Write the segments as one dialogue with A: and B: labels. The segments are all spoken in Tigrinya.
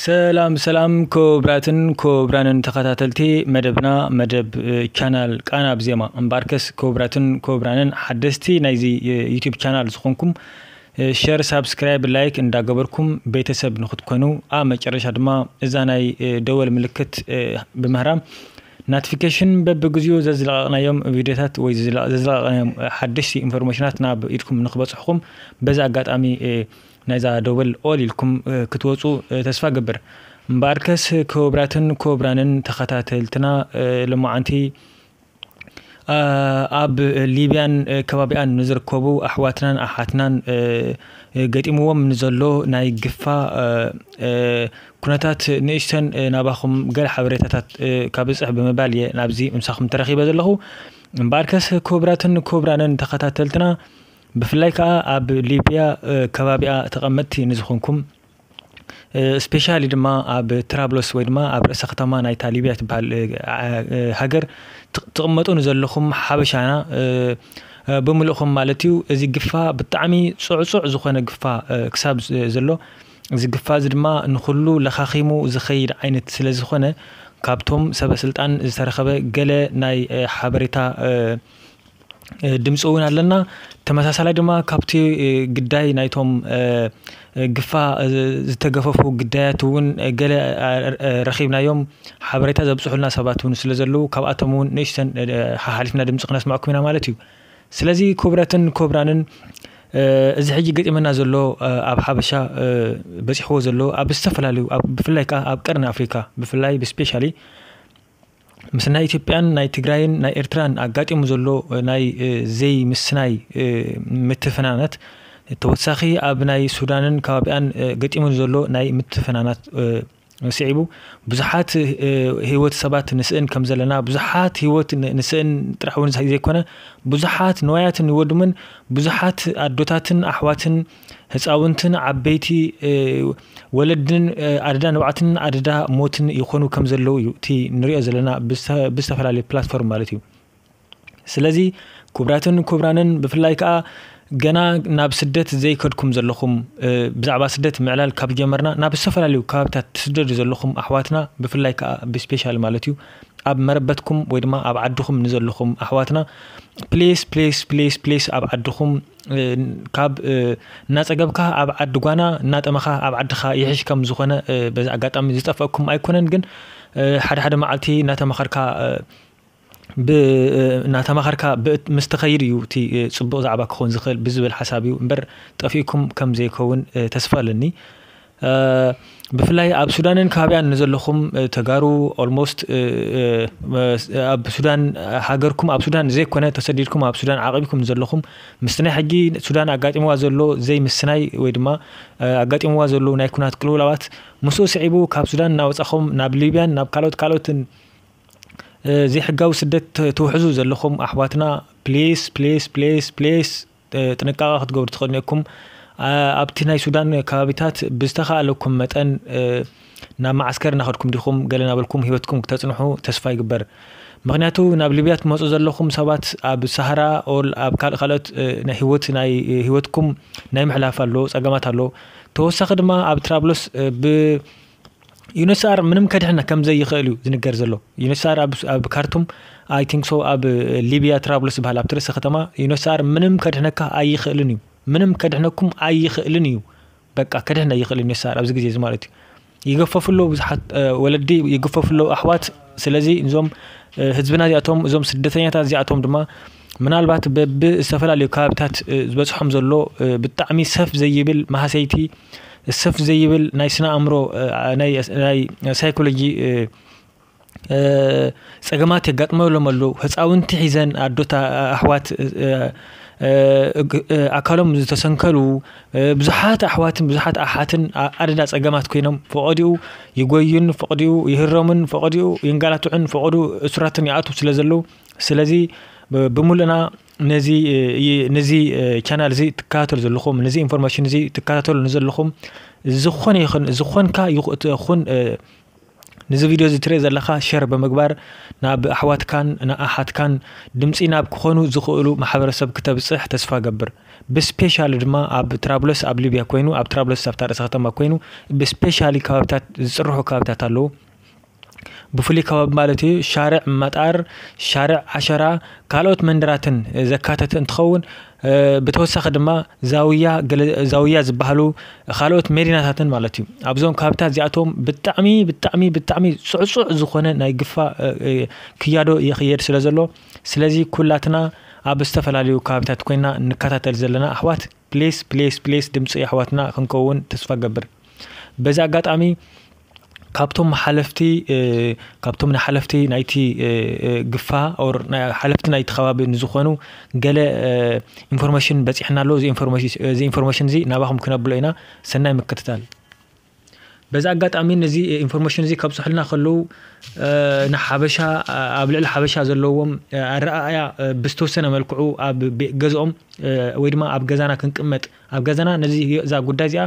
A: ሰላም ሰላም ክቡራትን ክቡራንን ተኸታተልቲ መደብና መደብ ቻናል ቃና ብዜማ እምበኣርከስ ክቡራትን ክቡራንን ሓደስቲ ናይዚ ዩቱብ ቻናል ዝኾንኩም ሸር ሳብስክራይብ ላይክ እንዳገበርኩም ቤተሰብ ንክትኮኑ ኣብ መጨረሻ ድማ እዛ ናይ ደወል ምልክት ብምህራም ናትፊከሽን በብግዚኡ ዘዝለቐቕናዮም ቪድዮታት ወይ ዘዝለቐቕናዮም ሓደሽቲ ኢንፎርሜሽናት ናብ ኢድኩም ንክበፅሑኹም በዚ ኣጋጣሚ ናይዛ ዶበል ኦል ኢልኩም ክትወፁ ተስፋ ገብር እምበኣርከስ ክቡራትን ክቡራንን ተኸታተልትና ሎማዓንቲ ኣብ ሊብያን ከባቢኣን ንዝርከቡ ኣሕዋትናን ኣሓትናን ገጢምዎም ንዘሎ ናይ ግፋ ኩነታት ንእሽተን ናባኹም ገለ ሓበሬታታት ካብጽሕ ብምባል እየ ናብዚ ምሳኹም ተረኺበ ዘለኹ። እምበኣርከስ ክቡራትን ክቡራንን ተኸታተልትና ብፍላይ ከኣ ኣብ ሊብያ ከባቢኣ ተቐመጥቲ ንዝኹንኩም ስፔሻሊ ድማ ኣብ ትራብሎስ ወይ ድማ ኣብ ርእሰ ከተማ ናይታ ሊብያ ትበሃል ሃገር ትቕመጡ ንዘለኹም ሓበሻና ብምልእኹም ማለት እዩ እዚ ግፋ ብጣዕሚ ጽዕጹዕ ዝኾነ ግፋ ክሳብ ዘሎ እዚ ግፋ እዚ ድማ ንኹሉ ለኻኺሙ ዝኸይድ ዓይነት ስለዝኾነ ካብቶም ሰበስልጣን ዝተረኸበ ገለ ናይ ሓበሬታ ድምፂ እውን ኣለና። ተመሳሳላይ ድማ ካብቲ ግዳይ ናይቶም ግፋ ዝተገፈፉ ግዳያት እውን ገለ ረኺብናዮም ሓበሬታ ዘብፅሑልና ሰባት እውን ስለዘለዉ ካብኣቶም እውን ንእሽተን ሓሓሊፍና ድምፂ ክነስመዐኩም ኢና ማለት እዩ። ስለዚ ኩብረትን ኩብራንን እዚ ሕጂ ገጢመና ዘሎ ኣብ ሓበሻ በጺሕዎ ዘሎ ኣብ ዝተፈላለዩ ብፍላይ ከኣ ኣብ ቀርኒ ኣፍሪካ ብፍላይ ብስፔሻሊ ምስ ናይ ኢትዮጵያን ናይ ትግራይን ናይ ኤርትራን ኣጋጢሙ ዘሎ ናይ ዘይምስናይ ምትፍናናት ተወሳኺ ኣብ ናይ ሱዳንን ከባቢኣን ገጢሙ ዘሎ ናይ ምትፍናናት ስዒቡ ብዙሓት ህይወት ሰባት ንስእን ከም ዘለና ብዙሓት ህይወት ንስእን ጥራሕ እውን ዘይኮነ ብዙሓት ንዋያትን ይወድምን ብዙሓት ኣዶታትን ኣሕዋትን ህፃውንትን ዓበይቲ ወለድን ኣደዳ ንብዓትን ኣደዳ ሞትን ይኾኑ ከም ዘለዉ እዩ እቲ ንሪኦ ዘለና ብዝተፈላለዩ ፕላትፎርም ማለት እዩ ስለዚ ኩብራትን ኩብራንን ብፍላይ ከኣ ገና ናብ ስደት ዘይከድኩም ዘለኹም ብዛዕባ ስደት ምዕላል ካብ ጀመርና ናብ ዝተፈላለዩ ከባቢታት ትስደዱ ዘለኹም ኣሕዋትና ብፍላይ ከኣ ብስፔሻል ማለት እዩ ኣብ መረበትኩም ወይ ድማ ኣብ ዓድኹም ንዘለኹም ኣሕዋትና ፕሌስ ፕሌስ ፕሌስ ፕሌስ ኣብ ዓድኹም ካብ እናፀገብካ ኣብ ዓዲ ጓና እናጠመኻ ኣብ ዓድኻ ይሕሽ ከም ዝኾነ በዚ ኣጋጣሚ ዝጠፈእኩም ኣይኮነን ግን ሓደ ሓደ መዓልቲ እናተመኸርካ ብ እናተማኸርካ ብ ምስ ትኸይድ እዩ እቲ ጽቡቅ ዛዕባ ክኾን ዝኽእል ብ ዝብል ሓሳብ እዩ እምበር ጠፊእኩም ከም ዘይከውን ተስፋ ኣለኒ ብፍላይ ኣብ ሱዳንን ከባቢኣን ንዘለኹም ተጋሩ ኦልሞስት ኣብ ሱዳን ሃገርኩም ኣብ ሱዳን ዘይኮነ ተሰዲድኩም ኣብ ሱዳን ዓቂብኩም ንዘለኹም ምስቲ ናይ ሕጂ ሱዳን ኣጋጢምዋ ዘሎ ዘይ ምስናይ ወይ ድማ ኣጋጢምዋ ዘሎ ናይ ኩናት ቅልውላዋት ምስኡ ስዒቡ ካብ ሱዳን እናወጻኹም ናብ ሊብያን ናብ ካልኦት ካልኦትን ዘይሕጋዊ ስደት ትውሕዙ ዘለኹም ኣሕዋትና ፕሊስ ፕሊስ ፕሊስ ፕሊስ ጥንቃቐ ክትገብሩ ትኽእሉ ኢኩም ኣብቲ ናይ ሱዳን ከባቢታት ብዝተኻኣለኩም መጠን ናብ መዓስከር እናኸድኩም ዲኹም ገለ ናበልኩም ሂወትኩም ክተፅንሑ ተስፋ ይግበር ምክንያቱ ናብ ሊብያ ትመፁ ዘለኹም ሰባት ኣብ ሳሃራ ኦል ኣብ ካልእ ካልኦት ናይ ሂወት ናይ ሂወትኩም ናይ ምሕላፍ ኣሎ ፀገማት ኣሎ ተወሳኺ ድማ ኣብ ትራብሎስ ብ ዩነስኣር ምንም ከድሕን ከም ዘይኽእል እዩ ዝንገር ዘሎ ዩነስኣር ኣብ ካርቱም ኣይ ቲንክ ሶ ኣብ ሊብያ ትራብሉስ ዝበሃል ኣብቲ ርእሰ ከተማ ዩነስኣር ምንም ከድሕነካ ኣይኽእልን እዩ ምንም ከድሕነኩም ኣይኽእልን እዩ በቃ ከድሕን ኣይኽእልን ዩነስኣር ኣብዚ ግዜ እዚ ማለት እዩ ይገፈፉ ኣለዉ ብዙሓት ወለዲ ይገፈፉ ኣለዉ ኣሕዋት ስለዚ እዞም ህዝብና እዚኣቶም እዞም ስደተኛታት እዚኣቶም ድማ ምናልባት በቢ ዝተፈላለዩ ከባቢታት ዝበፅሖም ዘሎ ብጣዕሚ ሰፍ ዘይብል ማህሰይቲ ሰፍ ዘይብል ናይ ስነ ኣእምሮ ናይ ሳይኮሎጂ ፀገማት የጋጥመሎም ኣሎ ህፃውንቲ ሒዘን ኣዶታ ኣሕዋት ኣካሎም ዝተሰንከሉ ብዙሓት ኣሕዋትን ብዙሓት ኣሓትን ኣደዳ ፀገማት ኮይኖም ፈቀድኡ ይጎዩን ፈቀድኡ ይህረሙን ፈቀድኡ ይንገላትዑን ፈቀድኡ እሱራትን ይኣትው ስለ ዘለው ስለዚ ብምሉእና ነዚ ነዚ ቻናል እዚ ትከታተሉ ዘለኹም ነዚ ኢንፎርሜሽን እዚ ትከታተሉ ንዘለኹም ዝኾነ ይኹን ዝኾንካ ይኹን ነዚ ቪድዮ እዚ ትርኢ ዘለኻ ሸር ብምግባር ናብ ኣሕዋትካን ንኣሓትካን ድምፂ ናብ ክኾኑ ዝኽእሉ ማሕበረሰብ ክተብፅሕ ተስፋ ገብር ብስፔሻሊ ድማ ኣብ ትራብሎስ ኣብ ሊብያ ኮይኑ ኣብ ትራብሎስ ኣብታ ርእሰ ከተማ ኮይኑ ብስፔሻሊ ከባብታት ዝፅርሑ ከባብታት ኣለዉ ብፍሉይ ከባቢ ማለት እዩ ሻርዕ መጣር፣ ሻርዕ ዓሸራ፣ ካልኦት መንደራትን ዘካተተ እንትኸውን ብተወሳኺ ድማ ዛውያ ገለ ዛውያ ዝበሃሉ ካልኦት ሜዲናታትን ማለት እዩ። ኣብዞም ካብታት እዚኣቶም ብጣዕሚ ብጣዕሚ ብጣዕሚ ጽዕጹዕ ዝኾነ ናይ ግፋ ክያዶ ይኽየድ ስለ ዘሎ ስለዚ ኩላትና ኣብ ዝተፈላለዩ ከባቢታት ኮይና ንከታተል ዘለና ኣሕዋት ፕሊስ ፕሊስ ፕሊስ ድምፂ የሕዋትና ክንከውን ተስፋ ገብር በዚ ኣጋጣሚ ካብቶም ሓለፍቲ ካብቶም ንሓለፍቲ ናይቲ ግፋ ኦር ሓለፍቲ ናይቲ ከባቢ ንዝኾኑ ገለ ኢንፎርሜሽን በፂሕና ኣሎ እዚ ኢንፎርሜሽን እዚ ናባኹም ክነብሎ ኢና ሰናይ ምክትታል በዚ ኣጋጣሚ ነዚ ኢንፎርሜሽን እዚ ከብፅሑልና ከለዉ ንሓበሻ ኣብ ልዕሊ ሓበሻ ዘለዎም ኣረኣእያ ብዝተወሰነ መልክዑ ኣብ ገዝኦም ወይ ድማ ኣብ ገዛና ክንቅመጥ ኣብ ገዛና ነዚ እዛ ጉዳይ እዚኣ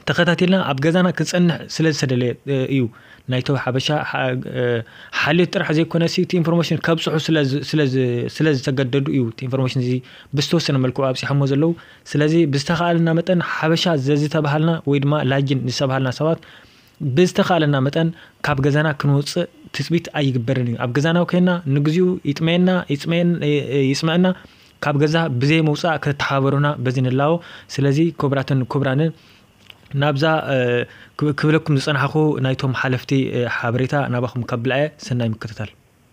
A: ተኸታቲልና ኣብ ገዛና ክንፀንሕ ስለ ዝተደለየ እዩ ናይቶ ሓበሻ ሓልዮት ጥራሕ ዘይኮነ እቲ ኢንፎርሜሽን ከብፅሑ ስለ ዝተገደዱ እዩ ኢንፎርሜሽን እዚ ብዝተወሰነ መልክዑ ኣብፅሖሞ ዘለዉ ስለዚ ብዝተኻእለና መጠን ሓበሻ ዘዝተባሃልና ወይ ድማ ላጂን ዝተባሃልና ሰባት ብዝተኻእለና መጠን ካብ ገዛና ክንወጽእ ትጽቢት ኣይግበርን እዩ። ኣብ ገዛና ኮይና ንግዚኡ ይጥመየና ይጽመኣና ካብ ገዛ ብዘይ ምውጻእ ከተተሓባበሩና በዚ ንላቦ። ስለዚ ክቡራትን ክቡራንን ናብዛ ክብለኩም ዝጸናሕኩ ናይቶም ሓለፍቲ ሓበሬታ ናባኹም ከብልዐ ሰናይ ምክትታል።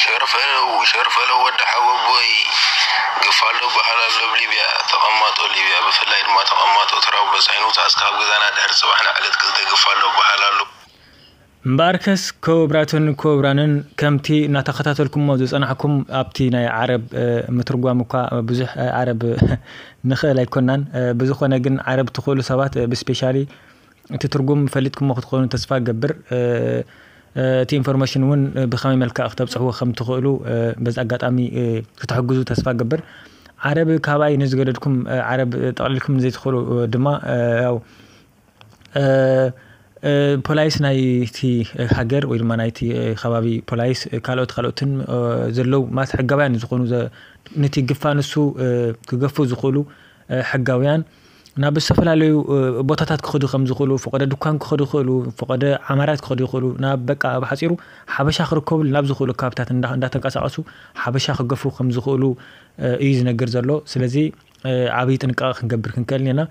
B: ሸርፈለዉ ሸርፈለዉ ወዲ ሓወቦይ ግፋሎ በሃል ኣሎ ኣብ ሊብያ ተቀማጦ ሊብያ ብፍላይ ድማ ተቀማጦ ትራብሎስ ኣይንውጻእስ ካብ ገዛና ድሕሪ ጽባሕ ንዕለት ክልተ ግፋሎ በሃል ኣሎ።
A: እምበኣርከስ ኮብራትን ኮብራንን ከምቲ እናተኸታተልኩሞ ዝጸናሕኩም ኣብቲ ናይ ዓረብ ምትርጓም እኳ ብዙሕ ዓረብ ንኽእል ኣይኮናን ብዝኾነ ግን ዓረብ ትኽእሉ ሰባት ብስፔሻሊ እቲ ትርጉም ፈሊጥኩሞ ክትኮኑ ተስፋ እገብር እቲ ኢንፎርሜሽን እውን ብከመይ መልክዕ ክተብፅሕዎ ከምትኽእሉ በዚ ኣጋጣሚ ክትሕግዙ ተስፋ እገብር ዓረብ ካባይ ንዝገደድኩም ዓረብ ጠቕሊልኩም ዘይትኽእሉ ድማ ያው ፖላይስ ናይቲ ሃገር ወይ ድማ ናይቲ ከባቢ ፖላይስ ካልኦት ካልኦትን ዘለው ማለት ሕጋውያን ዝኾኑ ነቲ ግፋ ንሱ ክገፉ ዝኽእሉ ሕጋውያን ናብ ዝተፈላለዩ ቦታታት ክኸዱ ከም ዝኽእሉ ፈቐደ ድኳን ክኸዱ ይኽእሉ ፈቐደ ዓማራት ክኸዱ ይኽእሉ ናብ በቃ ኣብ ሓፂሩ ሓበሻ ክርከብሉ ናብ ዝኽእሉ ካብታት እንዳተንቀሳቐሱ ሓበሻ ክገፉ ከም ዝኽእሉ እዩ ዝነገር ዘሎ ስለዚ ዓብዪ ጥንቃቐ ክንገብር ክንከእል ኔና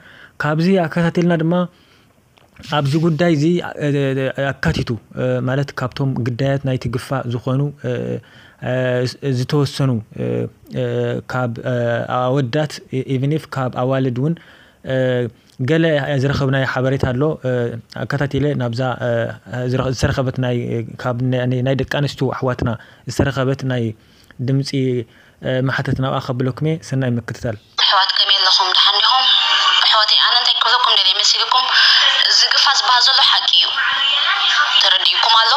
A: ካብዚ ኣከታቲልና ድማ ኣብዚ ጉዳይ'ዚ ኣካቲቱ ማለት ካብቶም ግዳያት ናይቲ ግፋ ዝኾኑ ዝተወሰኑ ካብ ኣወዳት ኢቭን ኢፍ ካብ ኣዋልድ እውን ገለ ዝረኸብናዮ ሓበሬታ ኣሎ ኣከታቲለ ናብዛ ዝተረኸበት ናይ ካብ ናይ ደቂ ኣንስትዮ ኣሕዋትና ዝተረኸበት ናይ ድምጺ ማሕተት ናብኣ ከብለኩምየ ሰናይ ምክትታል። እሕዋት ከመይ ኣለኹም
C: ደሓን ዲኹም እሕዋተይ ኣነ እንታይ ክብለኩም ደልየ መሲልኩም እዚ ግፋ ዝበሃል ዘሎ ሓቂ እዩ ተረዲኡኩም ኣሎ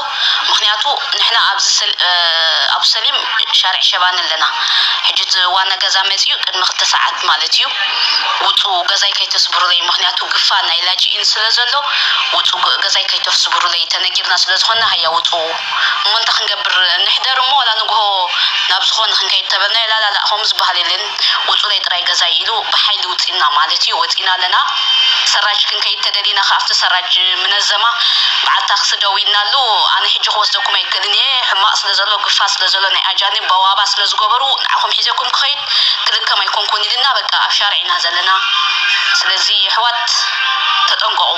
C: ምኽንያቱ ንሕና ኣብዚ ኣብሰሊም ሻርዕ ሸባኒ ኣለና ሕጂ እቲ ዋና ገዛ መጺኡ ቅድሚ ክልተ ሰዓት ማለት እዩ ውጹ ገዛይ ከይተስብሩለይ ምኽንያቱ ግፋ ናይ ላጅኢን ስለ ዘሎ ውጹ ገዛይ ከይተፍስብሩለይ ተነጊርና ስለ ዝኾንና ሃያ ውጹ እሞ እንታይ ክንገብር ንሕደር እሞ ዋላ ንግሆ ናብ ዝኾነ ክንከይድ ተበልናዮ ላላላእ ከምኡ ዝበሃል የለን ውጹለይ ጥራይ ገዛይ ኢሉ ብሓይሊ ውጺና ማለት እዩ ወጺና ኣለና ሰራጅ ክንከይድ ተደሊና ከኣ ኣብቲ ሰራጅ ምነዘማ በዓል ታክሲ ደው ኢልናሉ ኣነ ሕጂ ክወስደኩም ኣይክእልን እየ ሕማቅ ስለ ዘሎ ግፋ ስለ ዘሎ ናይ ኣጃንብ በዋባ ስለ ዝገበሩ ንዓኹም ሒዘኩም ክኸይድ ክልከም ኣይኮንኩን ኢልና በቃ ኣብ ሻርዕ ኢና ዘለና ስለዚ የሕዋት ተጠንቀቁ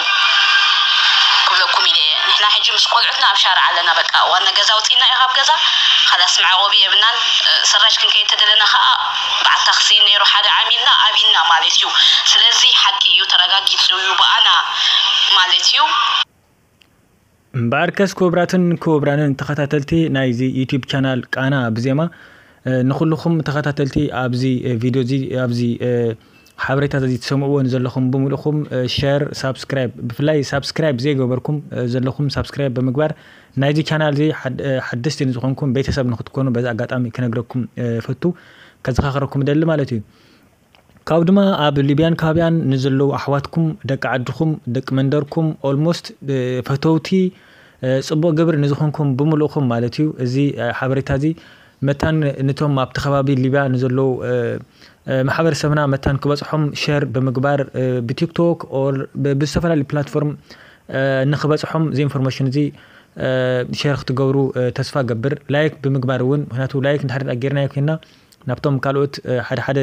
C: ክብለኩም ኢለ እየ። ንሕና ሕጂ ምስ ቆልዑትና ኣብ ሻርዕ ኣለና በቃ ዋና ገዛ ኣውጺእናዮ ካብ ገዛ ኻላስ መዕቆቢ የብናን ሰራጅ ክንከይድ ተደለና ኻኣ ባዓል ታክሲ ነይሩ ሓደ ዓሚልና ኣብይና ማለት እዩ ስለዚ ሓቂ እዩ ተራጋጊጹ እዩ ባኣና ማለት እዩ።
A: እምበኣርከስ ክቡራትን ክቡራንን ተኸታተልቲ ናይዚ ዩቱብ ቻናል ቃና ብዜማ ንኹሉኹም ተኸታተልቲ ኣብዚ ቪድዮ እዚ ኣብዚ ሓበሬታት እዚ ትሰምዕዎ ንዘለኹም ብምልእኹም ሸር ሳብስክራይብ ብፍላይ ሳብስክራይብ ዘይገበርኩም ዘለኹም ሳብስክራይብ ብምግባር ናይዚ ቻናል እዚ ሓደስቲ ንዝኾንኩም ቤተሰብ ንክትኮኑ በዚ ኣጋጣሚ ክነግረኩም ፈቱ ከዘኻኽረኩም ደሊ ማለት እዩ ካብ ድማ ኣብ ሊብያን ካባቢያን ንዘለዉ ኣሕዋትኩም ደቂ ዓድኹም ደቂ መንደርኩም ኦልሞስት ፈተውቲ ፅቡቕ ግብሪ ንዝኾንኩም ብምልእኹም ማለት እዩ እዚ ሓበሬታ እዚ መታን ንቶም ኣብቲ ከባቢ ሊብያ ንዘለዉ ማሕበር ሰብና መታን ክበጽሖም ሸር ብምግባር ብቲክቶክ ኦር ብዝተፈላለዩ ፕላትፎርም ንክበጽሖም እዚ ኢንፎርሜሽን እዚ ሸር ክትገብሩ ተስፋ ገብር ላይክ ብምግባር እውን ምክንያቱ ላይክ ንድሕሪ ጌርናዮ ኮይንና ናብቶም ካልኦት ሓደ ሓደ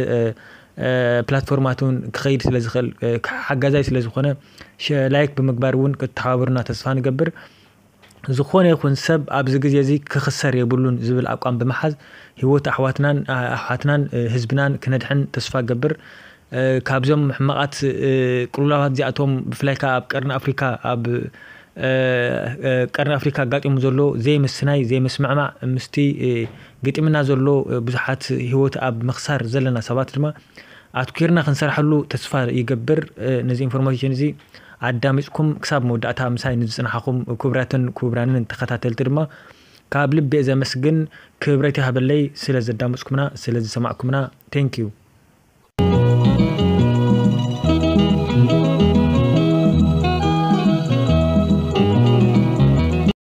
A: ፕላትፎርማት እውን ክኸይድ ስለ ዝኽእል ሓጋዛይ ስለ ዝኾነ ላይክ ብምግባር እውን ክትተሓባበሩና ተስፋ ንገብር ዝኾነ ይኹን ሰብ ኣብዚ ግዜ እዚ ክኽሰር የብሉን ዝብል ኣቋም ብምሓዝ ሂወት ኣሕዋትናን ኣሕዋትናን ህዝብናን ክነድሕን ተስፋ እገብር። ካብዞም ሕማቓት ቅልውላዋት እዚኣቶም ብፍላይ ከኣ ኣብ ቀርኒ ኣፍሪካ ኣብ ቀርኒ ኣፍሪካ ኣጋጢሙ ዘሎ ዘይምስናይ ዘይምስምዕማዕ ምስቲ ገጢምና ዘሎ ብዙሓት ሂወት ኣብ ምኽሳር ዘለና ሰባት ድማ ኣትኲርና ክንሰርሓሉ ተስፋ ይገብር። ነዚ ኢንፎርሞይሽን እዚ ኣዳሚጽኩም ክሳብ መወዳእታ ምሳይ ንዝጽናሓኹም ኩቡራትን ኩቡራንን ተኸታተልቲ ድማ ካብ ልቢ እየ ዘመስግን። ክብረት ይሃበለይ ስለ ዘዳመጽኩምና ስለ ዝሰማዕኩምና Thank you።